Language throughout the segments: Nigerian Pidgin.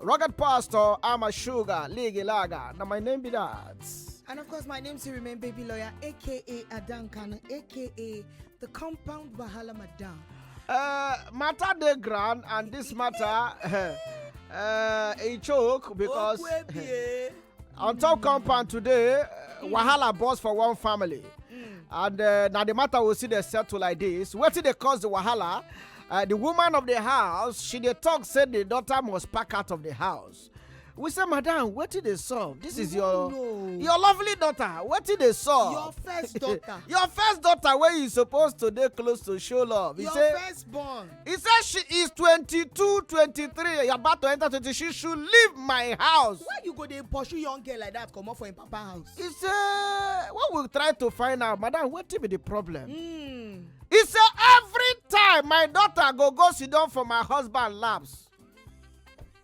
Rocket Pastor, I'm a sugar, Ligi Laga. Now my name be that. And of course, my name still remain Baby Lawyer, aka Adankan, aka the Compound Bahala Madam. Uh, matter the ground and this matter. uh, a choke because on top compound today uh, wahala burst for one family and uh, na the matter we see dey settle like this wetin dey cause the wahala uh, the woman of the house she dey talk say the daughter must pack out of the house we say madam wetin dey solve this is your your lovely daughter wetin dey solve your first daughter your first daughter wey you suppose to dey close to show love he say first born He said she is 22, 23, about to enter 20. She should leave my house. Why you go dey pursue young girl like that comot for im papa house? He said, what we try to find out, madam, wetin be the problem? Mm. He said, every time my daughter go go sit down for my husband laps,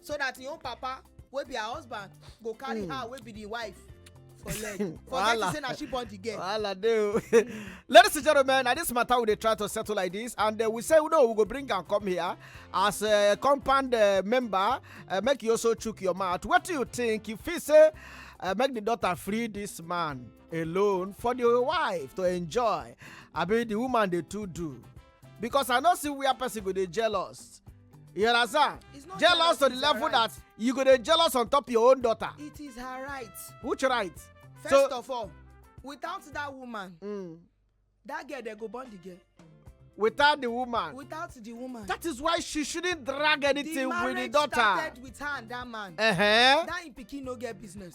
so that im own papa wey be her husband go carry mm. her wey be the wife for leg forget to say na she born the girl. wahala dey o ladies and gentlemen na this matter we dey try to settle like this and uh, we say no we go bring am come here as a uh, compound uh, member uh, make you also chook your mouth wetin you think you feel say uh, make the daughter free this man alone for the wife to enjoy abi the woman dey too do. because i no see where person go dey jealous you understand It's not jealous jealous, to the it's level her right. that you go dey jealous on top your own daughter it is her right which right first So- of all without that woman mm. that girl dey go born the girl without the woman without the woman that is why she shouldn't drag the anything with the marriage daughter started with her and that man uh-huh. that im pikin no get business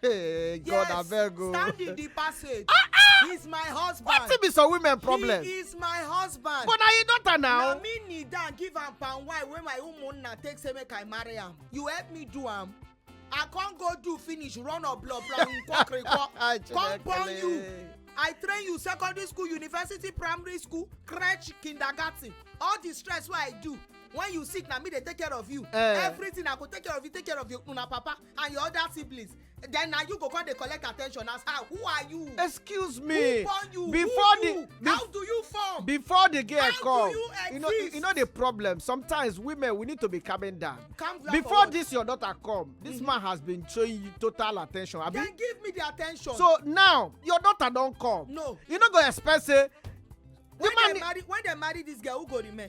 Hey, God, I beg you. Stand in the passage. Ah, ah! He's my husband. What if it's a women problem? He is my husband. But are you daughter now? Now me need down give am palm wine when my woman na take say make I marry am. You help me do am. I can't go do finish run or blow blow nkok nkok. Ah, Come born you. I train you secondary school, university, primary school, crèche, kindergarten. All the stress what I do when you sick na me dey take care of you. Uh, everything i go take care of you take care of your una papa and your other siblings then na you go come dey collect attention as how who are you. excuse me who born you before who you the, how do you form before the girl how come do you, exist? you know you know the problem sometimes women we need to be calming down calm down before this your daughter come this mm -hmm. man has been showing you total attention abi then give me the attention so now your daughter don come no you no go expect say when dem marry when dem marry this girl who go remain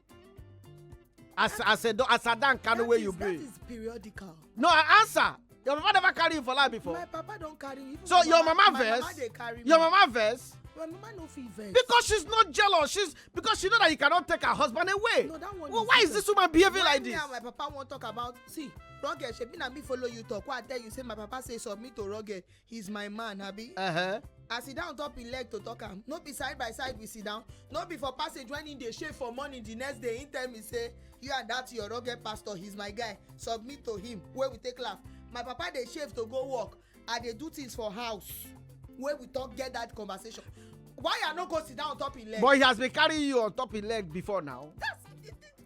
as as a as a dan kanu wey you be. that is periodical. no i answer your papa never carry you for life before. my papa don carry me. so your mama, mama vex. my mama dey carry me. your mama vex. my mama no fit vex. because she's not jealous she's because she know that you cannot take her husband away. no that one well, is why is this woman behaving like this. why me and my papa wan talk about see rugged shebi na me follow you talk why i tell you say my papa say submit to rugged he's my man abi Uh-huh. as he down top him leg to talk am no be side by side we sit down no be for passage when he dey shave for morning the next day he tell me say you and that your rugged pastor he's my guy submit to him wey we take laugh my papa dey shave to go work i dey do things for house wey we talk get that conversation why i no go sit down on top him leg. But he has been carrying you on top his leg before now. that's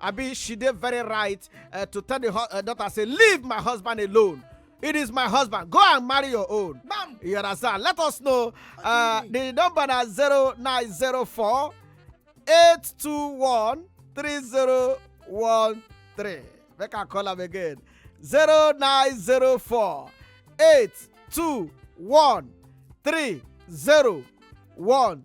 abi she dey very right uh, to tell the hu- uh, daughter say leave my husband alone it is my husband go and marry your own Bam. you understand let us know uh, the number na zero nine zero four eight two one three zero one three make i call am again zero nine zero four eight two one three zero one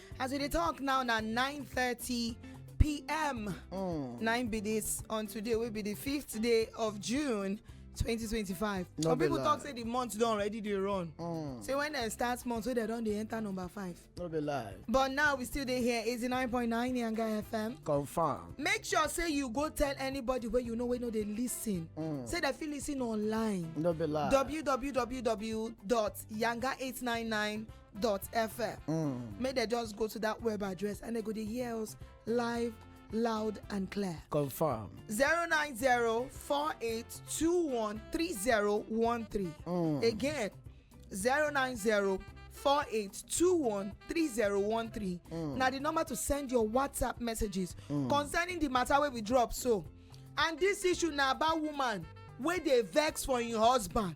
as we dey talk now na 9:30 pm Mm. na im be dis on today wey be di fifth day of june 2025 No some be pipo lie. tok say di month don already dey run Mm. say wen dem start month wey dem don dey enter number five No be lie. but now we still dey here 89.9 yanga fm Confirm. make sure say you go tell anybody wey you know wey no dey listen Mm. say dem fit listen online No be lie. www.yanga899 dot fm mm. make dem just go to that web address and they go to hear us live loud and clear. Confirm. 090-4821-3013. Mm. Again, 090 48213013 mm. na the number to send your whatsapp messages mm. concerning the matter wey we drop so and this issue na about woman wey dey vex for im husband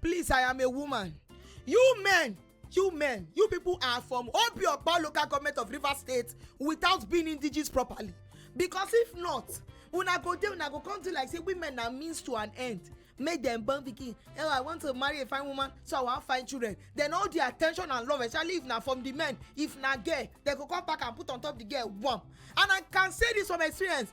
please i am a woman you men you men you people are from obiokpa local government of rivers state without being indigenous properly because if not una go dey una go come do like say women na means to an end make dem born pikin oh i want to marry a fine woman so i wan find children then all the attention and love especially if na from the men if na girl dem go come pack am put on top the girl warm and i can say this from experience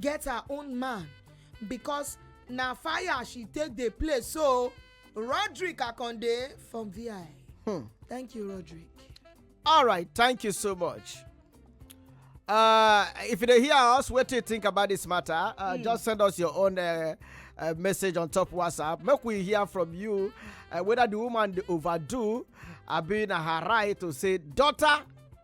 get her own man because na fire she take dey play so roderick akonde from vi hmm. thank you roderick all right thank you so much uh, if you hear us what do you think about this matter uh, mm. just send us your own uh, uh, message on top whatsapp make we hear from you uh, whether the woman dey overdo abi na her right to say daughter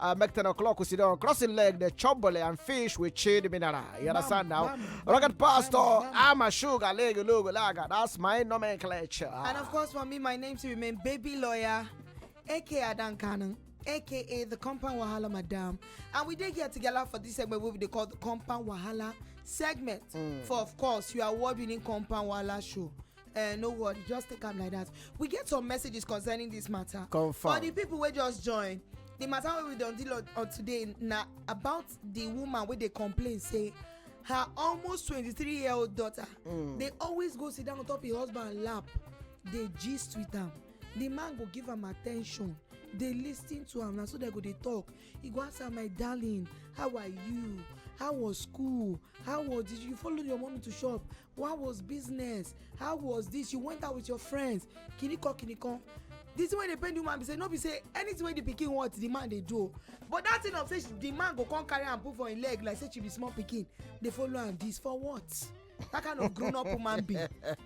uh, make 10 o'clock we sit down crossing leg the chobole and fish with chili mineral you understand now rocket pastor i'm a sugar leg logo laga that's my nomenclature and of course for me my name to remain baby lawyer aka adan cannon aka the compound wahala madam and we did get together for this segment wey we dey call the compound wahala segment mm. for of course your award winning compound wahala show Uh, no worry just take am like that we get some messages concerning this matter Confirm. for the people wey just join the matter wey we don deal on, on today na about the woman wey dey complain say her almost twenty-three year old daughter mm. dey always go sit down on top her husband lap dey gist with am the man go give am attention dey lis ten to am na so dem go dey talk e go ask am my darling how are you how was school how was did you follow your mommy to shop What was business? How was this? You went out with your friends. Kiniko, kiniko. This way they pay the woman be say no be say anything wey the pikin want the man dey do but that thing of say the man go come carry am put for im leg like say she be small pikin dey follow am this for what? that kind of grown up woman be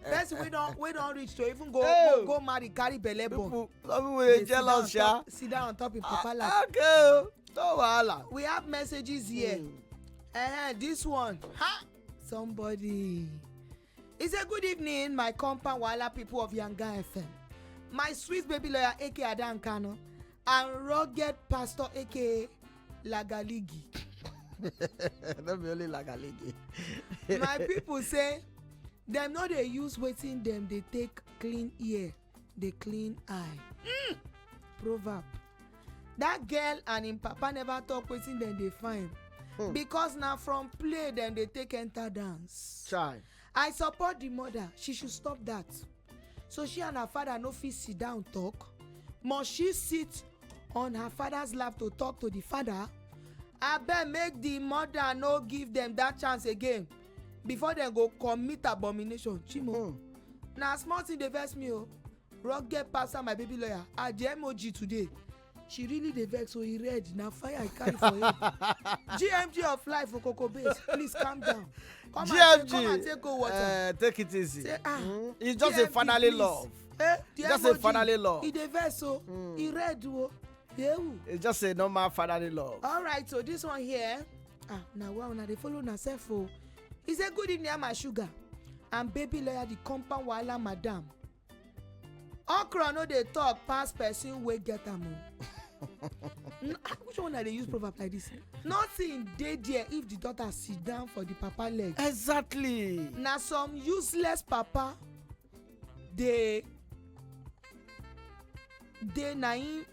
person wey don wey don reach to even go go, go marry carry belle born people some people dey jealous sha sit down on top im papa ah, lap okay o oh. no wahala we have messages here mm. uh, this one ha somebody it's a good evening my compound wahala people of yanga fm my sweet baby lawyer aka adan kano and rugged pastor aka lagaligi no be only lagaligi my people say dem no dey use wetin dem dey take clean ear dey clean eye hmm. proverb that girl and im papa never talk wetin dem dey find hmm. because na from play dem dey take enter dance Chai. i support the mother she should stop that so she and her father no fit sit down talk must she sit on her father's lap to talk to the father abeg make the mother no give them that chance again before dem go commit abomination chimo hmm. na small thing dey vex me o oh. rugged pastor my baby lawyer at the mog today she really dey vex so oh, e red na fire i carry for head gmg of life for cocoa base please calm down come gmg and, come and take cold water uh, take it easy say ah mm. it's just GMG, a fatherly please. love eh, just a fatherly love e dey vex so oh. mm. e red o. Oh. Yeah. It's just a normal fatherly love. All right, so this one here. Ah, now wow, now they follow now self. Oh, he said, "Good evening, my sugar." And baby lawyer the compound wahala madam. Okra no dey talk pass person wey get am o. Ah, which one i dey use proverb like this nothing dey there if the daughter sit down for the papa leg. exactly. na some useless papa dey dey na im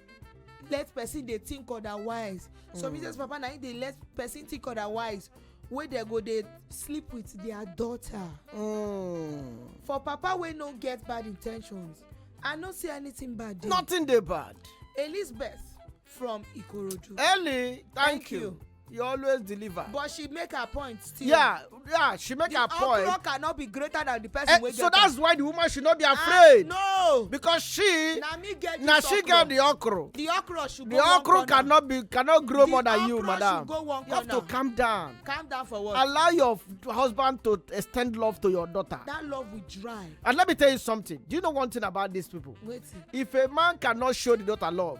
let person dey think otherwise some reasons papa na im dey let person think otherwise wey dem go dey sleep with their daughter Mm. for papa wey no get bad in ten tions i no see anything bad there nothing dey bad elizabeth from ikorodu. ellie thank, you. he always deliver. but she make her point still. yeah yeah she make the her point. the okro cannot be greater than the person eh, wey get am. so that's why the woman should not be ah, afraid. Uh, no because she na me get na she get the okro. the okro should go the one corner. the okro cannot be cannot grow the more than you madam. the okro should go one corner. you have to calm down. calm down for what. allow your husband to extend love to your daughter. that love will dry. and let me tell you something do you know one thing about these people. wetin. if a man cannot show the daughter love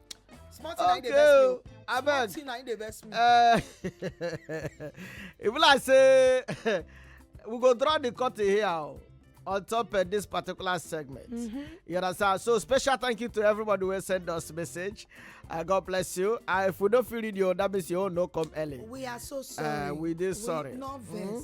small thing okay. na him abeg small thing na him dey vex me. Uh, e be like say we go draw the curtain here oh, on top of this particular segment. Mm -hmm. You understand? So special thank you to everybody who sent us message. Uh, God bless you. Uh, if we don't feel it, you that means you all no come early. We are so uh, sorry. Uh, we did sorry. We, no mm -hmm.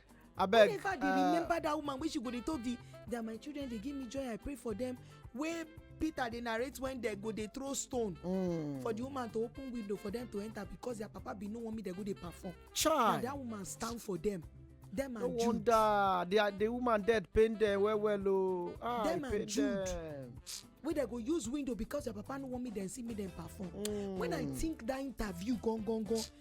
abeg whenever dey uh, remember that woman wey she go dey talk the that my children dey give me joy i pray for them wey peter dey narrate when dem go dey throw stone mm. for the woman to open window for them to enter because their papa bin no want me dem go dey perform Child. na that woman stand for them them and no jude wonder the, the woman dead pain them well well o oh. ah, them and jude them. wey dem go use window because their papa no want me dem see me dem perform mm. when i think that interview gone gone gone